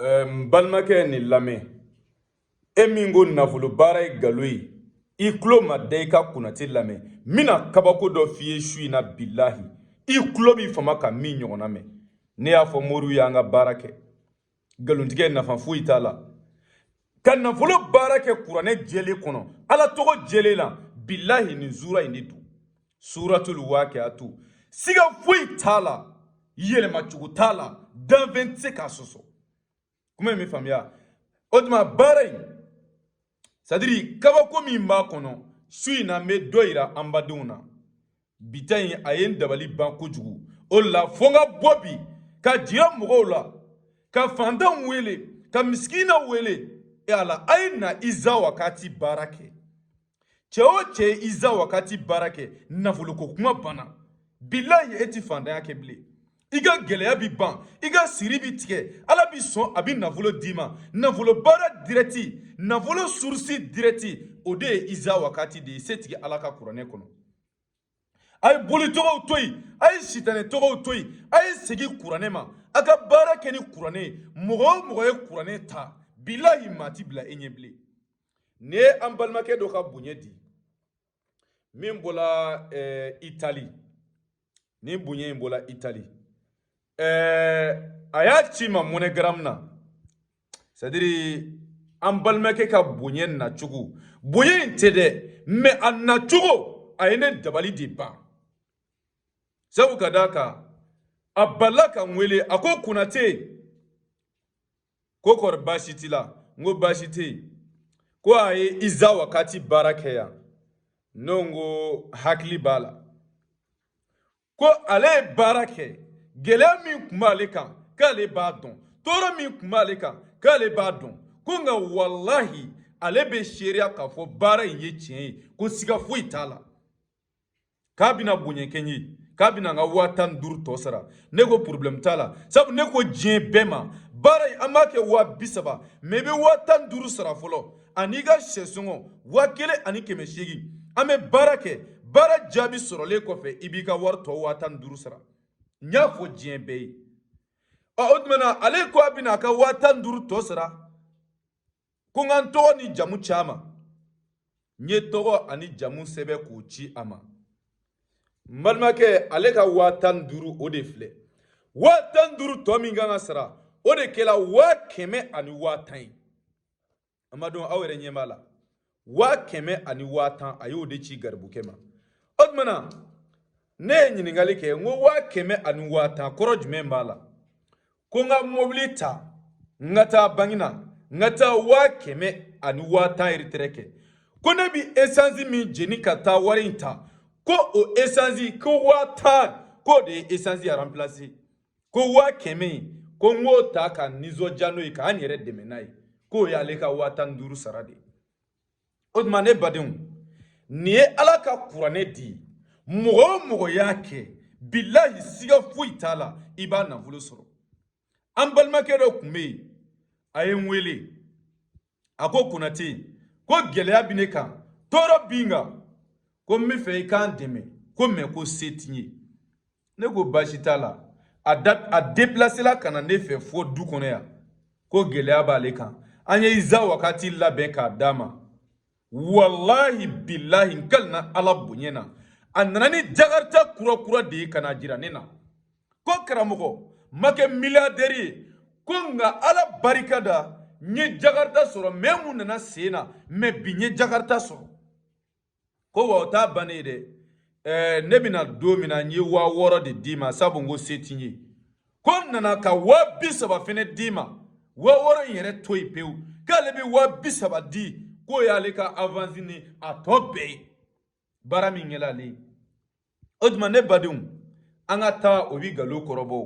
ɛɛ n balimakɛ ye nin lamɛn e min ko nafolo baara ye nkalon ye i tulo ma da i ka konate lamɛn n bɛna kabako dɔ f'i ye su in na bilahi i tulo b'i fama ka min ɲɔgɔnna mɛn ne y'a fɔ moriw y'an ka baara kɛ nkalontigɛ nafa foyi t'a la ka nafolo baara kɛ kuranɛ jɛlen kɔnɔ ala tɔgɔ jɛlen na bilahi nin sura in de don suratul waqiatu siga foyi t'a la yɛlɛma cogo t'a la danfɛn tɛ se k'a sɔsɔ kuma in bɛ faamuya o tuma baara in c'est à dire kabako min b'a kɔnɔ su in na n bɛ dɔ yira an badenw na bi ta in a ye n dabali ban kojugu o la fo n ka bɔ bi k'a jira mɔgɔw la ka fantanw wele ka misikinaw wele ala a ye na iza wakati baara kɛ cɛ o cɛ ye iza wakati baara kɛ nafoloko kuma banna bilahi e ti fantanya kɛ bilen i ka gɛlɛya bi ban i ka siri bi tigɛ ala b'i sɔn a bi nafolo d'i ma nafolo baara dirɛti nafolo surusi dirɛti o de ye iza wakati de ye setigi ala ka kuranɛ kɔnɔ a ye boli tɔgɔw to yen a ye sitanɛ tɔgɔw to yen a ye segin kuranɛ ma a ka baara kɛ ni kuranɛ ye mɔgɔ o mɔgɔ ye kuranɛ ta bilahi maa ti bila e ɲɛ bilen nin ye an balimakɛ dɔ ka bonya di min bɔla eh, itali nin bonya in bɔla itali eh, a y'a ci n ma moneygram na c'est à dire an balimakɛ ka bonya nacogo bonya in tɛ dɛ mais a nacogo a ye ne dabali de ban sabu ka d'a kan a balala ka n wele a ko konate ko kɔri baasi t'i la n ko baasi tɛ yen ko a ye iza wakati baara kɛ yan ne ko hakili b'a la ko ale ye baara kɛ gɛlɛya min tun b'ale kan k'ale b'a dɔn tɔɔrɔ min tun b'ale kan k'ale b'a dɔn ko nka walahi ale bɛ seereya k'a fɔ baara in ye tiɲɛ ye ko siga foyi t'a la k'a bɛna bonya kɛ n ye k'a bɛna n ka waa tan ni duuru tɔ sara ne ko porobilɛmu t'a la sabu ne ko diɲɛ bɛɛ ma baara in an b'a kɛ waa bi saba mais i bɛ waa tan ni duuru sara fɔlɔ an'i ka sɛsɔngɔ waa kelen ani kɛmɛ seegin an bɛ baara kɛ baara jaabi sɔrɔlen kɔfɛ i b'i ka wari tɔ waa tan ni duuru sara n y'a fɔ diɲɛ bɛɛ ye ɔ o tuma na ale ko a bɛna a ka waa tan ni duuru tɔ sara ko n ka n tɔgɔ ni jamu ci a ma n ye tɔgɔ ani jamu sɛbɛn k'o ci a ma n balimakɛ ale ka waa tan ni duuru o de filɛ waa tan ni duuru tɔ min kan ka sara o de kɛra waa kɛmɛ ani waa tan ye an badenw aw yɛrɛ ɲɛ b'a la waa kɛmɛ ani waa tan a y'o de ci garibukɛ ma o tumana ne ye ɲininkali kɛ n ko waa kɛmɛ ani waa tan kɔrɔ jumɛn b'a la ko n ka mobili ta n ka taa banki na n ka taa waa kɛmɛ ani waa tan ereterɛ kɛ ko ne bi esansi min jeni ka taa wari in ta ko o esansi ko waa tan k'o de ye esansi aranpilasi ko waa kɛmɛ in ko n k'o ta ka nisɔndiya n'o ye ka n yɛrɛ dɛmɛ n'a ye k'o y'ale ka waa tan ni duuru sara de ye o tuma ne badenw nin ye ala ka kuranɛ de ye mɔgɔ o mɔgɔ y'a kɛ bilahi siga foyi t'a la i b'a nafolo sɔrɔ an balimakɛ dɔ tun bɛ yen a ye n wele a ko konate ko gɛlɛya bɛ ne kan tɔɔrɔ bi n kan ko n b'a fɛ i ka n dɛmɛ ko mɛ ko se t'i ye ne ko baasi t'a la a da a depilasela ka na ne fɛ fo du kɔnɔ yan ko gɛlɛya b'ale kan an ye iza wakati labɛn k'a d'a ma walahi bilahi n kalina ala bonya na a nana ni jakarita kurakura de ye ka na jira ne na ko karamɔgɔ n ma kɛ miliyadɛri ye ko nka ala barika da n ye jakarita sɔrɔ mɛ mun nana sen na mɛ bi n ye jakarita sɔrɔ ko wa o t'a bannen ye dɛ ɛɛ ne bɛ na don min na n ye waa wɔɔrɔ de d'i ma sabu n ko se t'i ye ko n nana ka waa bi saba fɛnɛ d'i ma waa wɔɔrɔ in yɛrɛ to yen pewu k'ale bɛ waa bi saba di k'o y'ale ka avansi ni a tɔ bɛɛ ye baara min kɛla ale ye o tuma ne badenw an ka taa o bi nkalon kɔrɔbɔ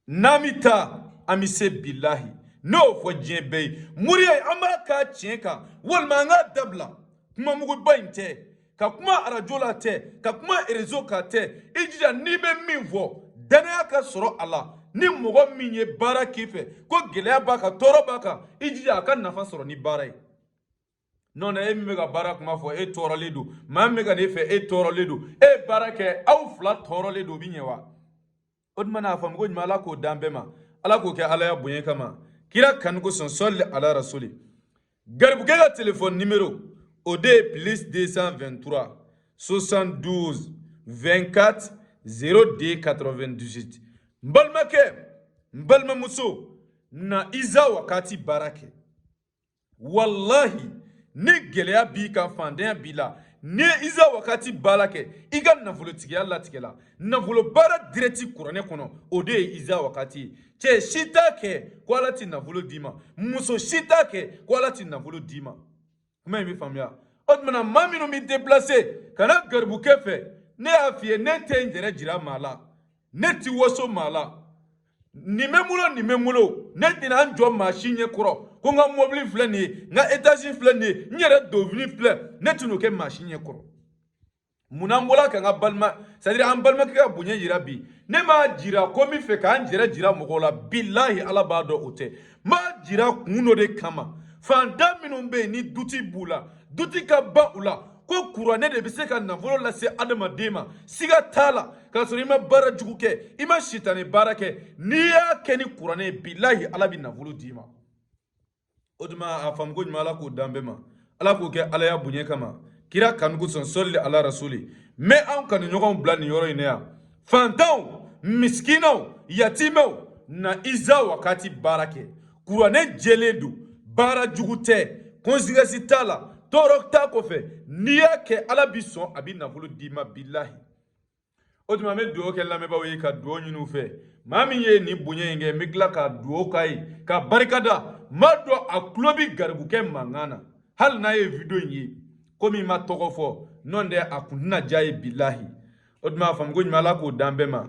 n'an bɛ taa an bɛ se bilahi n y'o fɔ diɲɛ bɛɛ ye moriya an b'a k'a tiɲɛ kan walima an k'a dabila kuma muguba in tɛ ka kuma arajo la tɛ ka kuma erezo kan tɛ i jija n'i bɛ min fɔ danaya ka sɔrɔ a la ni mɔgɔ min ye baara k'i fɛ ko gɛlɛya b'a kan tɔɔrɔ b'a kan i jija a ka nafa sɔrɔ ni baara ye n'o tɛ e min bɛ ka baara kuma fɔ e tɔɔrɔlen don maa min bɛ ka n'e fɛ e tɔɔrɔlen don e ye baara kɛ aw fila tɔɔrɔlen don o bɛ ɲɛ wa o tuma na a faamu ko ɲuman ala k'o d'an bɛɛ ma ala k'o kɛ alaya bonya kama kira kanu kosɔn sɔli ala rasuli garibukɛ ka telefɔni nimero o de ye plus 223 72 24 02 98 n balimakɛ n balimamuso na iza wakati baara kɛ walahi ni gɛlɛya b'i kan fantanya b'i la n'i ye iza wakati baara kɛ i ka nafolotigiya latigɛla nafolo baara dirɛti kuranɛ kɔnɔ o de ye iza wakati ye cɛ si t'a kɛ ko ala ti nafolo d'i ma muso si t'a kɛ ko ala ti nafolo d'i ma kuma in bɛ faamuya o tumana maa minnu bɛ deplase ka na garibukɛ fɛ ne y'a f'i ye ne tɛ n yɛrɛ jira maa la ne ti waso maa la nin bɛ n bolo nin bɛ n bolo ne tɛna n jɔ maa si ɲɛ kɔrɔ ko n ka mɔbili filɛ nin ye n ka etazi filɛ nin ye n yɛrɛ donfini filɛ ne tɛna o kɛ maa si ɲɛ kɔrɔ munna n bɔra ka n ka balima sadiri an balimakɛ ka bonya yira bi ne m'a jira ko n bɛ fɛ ka n jɛrɛ jira mɔgɔw la bilahi ala b'a dɔn o tɛ n b'a jira kun dɔ de kama fantan minnu bɛ yen ni duti b'u la duti ka ban u la ko kuranɛ de bɛ se ka nafolo lase adamaden ma siga t'a la k'a sɔrɔ i ma baara jugu kɛ i ma sitani baara kɛ n'i y'a kɛ ni kuranɛ ye bilahi ala bɛ nafolo d'i ma o tuma a faamuko ɲuman ala k'o d'an bɛɛ ma ala k'o kɛ alaya bonya kama kira kanu kosɔn sɔli ala rasuli n bɛ anw kanuɲɔgɔnw bila nin yɔrɔ in na yan fantanw misikinaw yatimɛw na iza wakati baara kɛ kuranɛ jɛlen don baara jugu tɛ kɔnsekansi t'a la tɔɔrɔ t'a kɔfɛ n'i y'a kɛ ala bi sɔn a bi nafolo d'i ma bilahi o tuma n bɛ dugawu kɛ lamɛnbaaw ye ka dugawu ɲini u fɛ maa min ye nin bonya in kɛ n bɛ tila ka dugawu k'a ye ka barika da n b'a dɔn a tulo bɛ garibukɛ mankan na hali n'a ye video in ye komi n ma tɔgɔ fɔ n'o tɛ a kun tɛna diya a ye bilahi o tuma a faamuko ɲuman ala k'o d'an bɛɛ ma